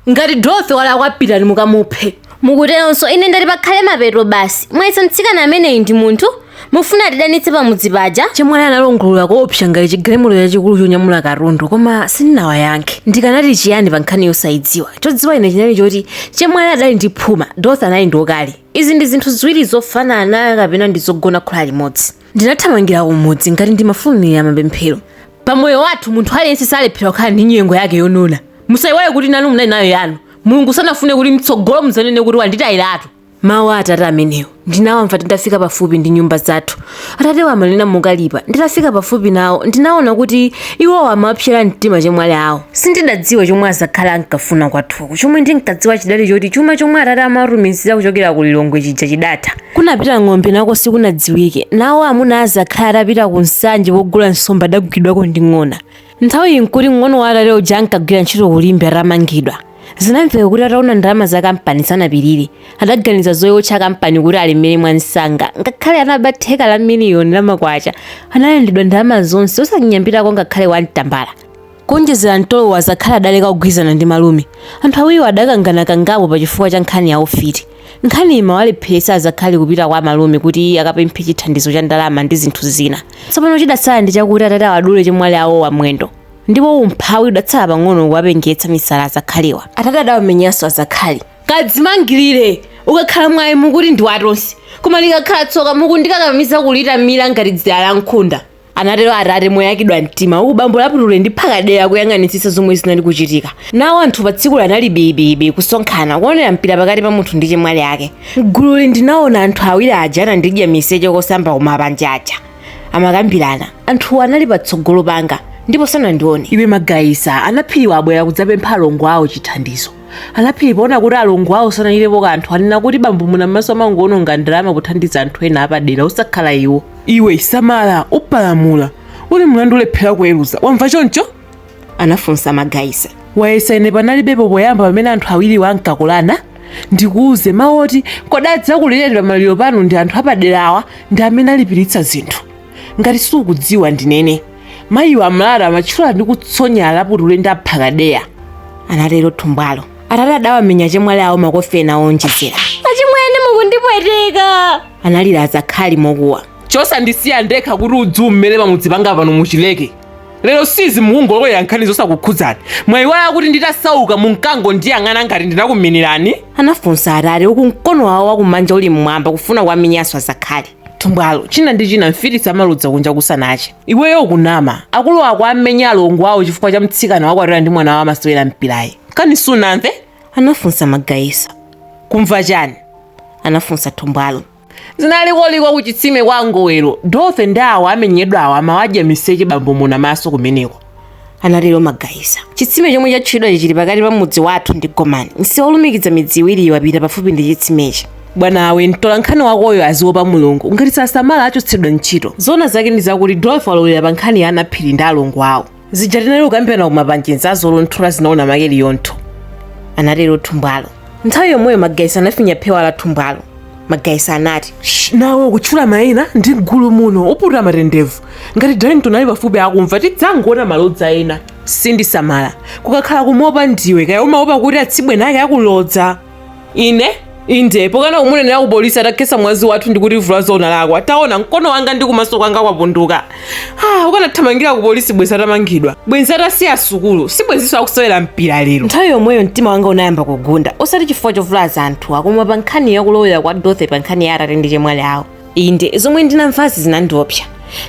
Ngati Dorothy walakwa pitani mukamuphe. Mukuteronso ine ndati pakhale mapeto basi. Mwayesa mtsikana ameneyi ndi munthu? Mufuna atidanitse pamudzi paja? Chemwali analongolola koopsa ngati chigalimoto chachikulu chonyamula katundu koma sindinawayankhe. Ndikanati chiyani pa nkhani yosaidziwa? Chodziwa ine chinali choti chemwali adali ndi phuma, Dorothy anali ndi ukali. Izi ndi zinthu ziwiri zofanana kapena ndi zogona khola limodzi. ndinathamangira kumudzi ngati ndimafulumira mapemphero pamoyo wathu munthu aliyense salephera kukhala ndi nyengo yake yonona musayiwale kuti nanu munali nayo yanu mulungu sanafune kuti mtsogolo mudzanene kuti wanditayiratu mawu a atate amenewo ndinawamva titafika pafupi ndi nyumba zathu atatewo amanena mokalipa nditafika pafupi nawo ndinaona kuti iwowo amapsera mtima chemwali awo sindidadziwe chomwe azakhali ankafuna kwathuku chomwe ndinkadziwa chidali choti chuma chomwe atate amatumizira kuchokera ku lilongwe chija chidatha Kunapita ng'ombe nako sikunadziwike. Nawo amuna a azakhali atapita ku Nsanje kogula nsomba adagwidwako ndi ng'ona. Nthawiyi n'kuti mng'ono wa atate uja ankagwira ntchito ku Limbe atamangidwa. Zinamveka kuti ataona ndalama za kampani sanapirire. Adaganiza zoiwotcha kampani kuti alemere mwamsanga. Ngakhale anaba theka la miliyoni la makwacha, analandidwa ndalama zonse osanyambitako ngakhale wan tambala. Kuonjezera mtolowo azakhali adaleka kugwirizana ndi malume. Anthu awiriwo adakangana kangapo pa chifukwa cha nkhani ya ufiti. Nkhaniyi imawalepheretsa azakhali kupita kwa amalume kuti akapemphe chithandizo cha ndalama ndi zinthu zina. Tsopano chidatsala ndi chakuti atate awadule chemwali awowa mwendo ndipo umphawi udatsala pang'ono kuwapengetsa misala azakhaliwa. Atate adawamenyanso azakhali. Kadzimangirire! Ukakhala mwayi mukuti ndi wa tonse, koma likakhala tsoka mukundikakamiza kulitamira ngati dzira la nkhunda. anatero atate moyakidwa mtima uku bambo laputule ndi phakadeya akuyang'anitsitsa zomwe zinali kuchitika nawo anthu pa tsikulo anali bibibi kusonkhana kuonera mpira pakati pa munthu ndi chemwali ake mgululi ndinaona anthu awiri aja anandidya miseche kosamba kumapanja aja amakambirana anthuwo anali patsogolo panga ndipo sanandione iwe magayisa anaphiriwa abwera kudzapempha alongo awo chithandizo anaphiri poona kuti alongo awo sanachitepo kanthu anena kuti bambo muna m'maso amangoononga ndalama kuthandiza anthu ena apadera osakhala iwo iwe samala upalamula uli mlandu ulephera kuweruza wamva choncho anafunsa magaisa wayesa ine panalibepo poyamba pamene anthu awiriwo ankakolana ndikuuze mawu oti kodi adzakulireni pamaliro panu ndi anthu apaderawa ndi amene alipiritsa zinthu ngati sukudziwa ndinene mayiwa amalalata amatchula ndi kutsonya alaputule ndi aphakadeya anatero thumbwalo atate adawamenya chemwali awo makofi ena owonjezera achimwene mukundipweteka analira azakhali mokuwa chosandisiya ndekha kuti udzu umere pamudzi panga pano muchileke lero sizi mukungolowera nkhani zosakukhudzani mwayiwala kuti nditasauka munkangondiyang'ana ngati ndinakuminirani anafunsa atate uku mkono wawo wakumanja uli mmwamba kufuna kuwamenyanso azakhali thumbwalo china ndi china mfiti zimaludza kunja kusanache. iweyo ukunama akulu ako amenya alongo awo chifukwa cha mtsikana wakwatira ndi mwana wawo wamasewera mpirayu. kani sunamve? anafunsa Magaisa. kumva chani? anafunsa thumbwalo. zinali koliko kuchitsime kwa ngowero. Dorothy ndi awo amenyedwawo amawadya miseche bambo munamaso kumeneko. anatero Magayisa. Chitsime chomwe chatchulidwachi chili pakati pa mudzi wathu ndi Gomani. Msewu wolumikiza midzi iwiriyi wapita pafupi ndi chitsimechi. Bwanawe, mtolankhani wakoyo aziopa Mulungu. Ngati sasamala achotsedwa ntchito. Zoona zake ndi zakuti Dorothy walowerera pa nkhani ya Anaphiri ndi alongo awo. Zija tinali kukambirana ku Mapanje n'zazolonthola zinaona make Liyontho. Anatero Thumbwalo. Nthawi yomweyo Magayisa anafinya phewa la Thumbwalo. magaisa anati "Shh, nawe ukutchula mayina m'chigulu muno uputa matendevu ngati darlington ali pafupi akumva tidzangoona malodza ena sindisamala kukakhala kumuopa ndiwe kaya umaopa kuti atsibwene ake akulodza ine inde pokana kumunenera ku polisi atakhetsa mwazi wathu ndi kutivulaza ona lako taona mkono wanga ndi kumaso kwanga kwapunduka Ah, ukanathamangira ku polisi bwenzi atamangidwa bwenzi atasiya sukulu si bwenzinso akusewera mpira lero nthawi yomweyo mtima wanga unayamba kugunda osati chifukwa chovulaza anthuwa koma pa nkhani yakulowerera kwa Dorothy pa nkhani ya atate ndi chemwali awo inde zomwe ndinamvazi zinandiopsa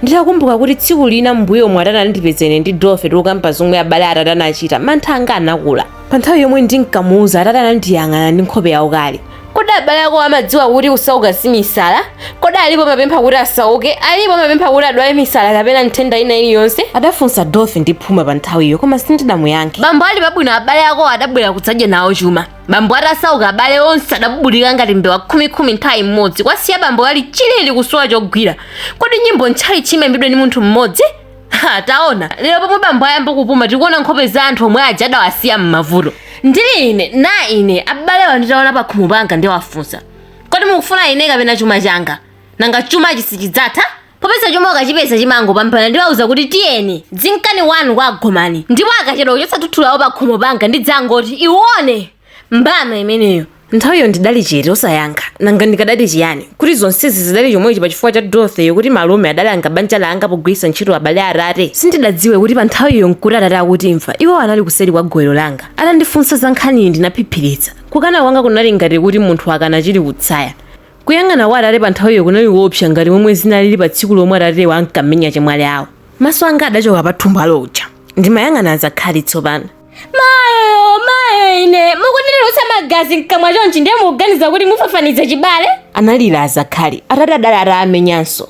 nditakumbuka kuti tsiku lina m'mbuyomu atate anandipeza ine ndi Dorothy tikukamba zomwe abale a atate anachita mantha anga anakula pa nthawi yomwe ndinkamuuza atate anandiyang'ana ndi nkhope yaukali Kodi abale ako amadziwa kuti kusauka si misala? Kodi alipo amapempha kuti asauke? Alipo amapempha kuti adwale misala kapena nthenda ina iliyonse? adafunsa Dorothy ndi phuma pa nthawiyo koma sindidamuyankhe. Bambo ali pabwino abale ako adabwera kudzadya nawo chuma. Bambo atasauka abale onse adabubulika ngati mbewa khumikhumi nthawi imodzi kuwasiya bambo ali chilili kusowa chogwira. Kodi nyimbo m'tchalitchi imaimbidwa ndi munthu mmodzi? Ha, taona lero pomwe bambo ayamba kupuma tikuona nkhope za anthu omwe aja adawasiya m'mavuto ndili ine na ine abalewa nditawaona pakhomo panga ndiwafunsa kodi mukufuna ine kapena chuma changa nanga chumachi sichidzatha popeza chuma ukachipeza chimangopambana ndiwauza kuti tiyeni dzinkani kwanu kwa agomani ndipo akachedwa kuchotsa tsutsu lawo pakhomo panga ndidzangoti iwone mbama imeneyo nthawiyo ndidali chete osayankha nanga ndikadati chiyani kuti zonsezi zidali chomwechi pa chifukwa cha dorothy yo kuti malume adalanga banja langa pogwiritsa ntchito abale a atate sindidadziwe kuti pa nthawiyo nkuti atate akutimva iwo anali kuseri kwa gowero langa atandifunsa za nkhaniyi ndinaphiphiritsa kukana kwanga kunali ngati kuti munthu akana chili kutsaya kuyang'ana kwa atate pa nthawiyo kunali koopsa ngati momwe zinalili pa tsiku lomwe atatewa ankamenya chemwali awo maso anga adachoka pa Thumbwalo uja ndimayang'ana azakhali tsopano mayo mayo ine mukunditulutsa magazi mkamwa chonchi ndiye mukuganiza kuti mufafaniza chibale analira azakhali atate adali atamenyanso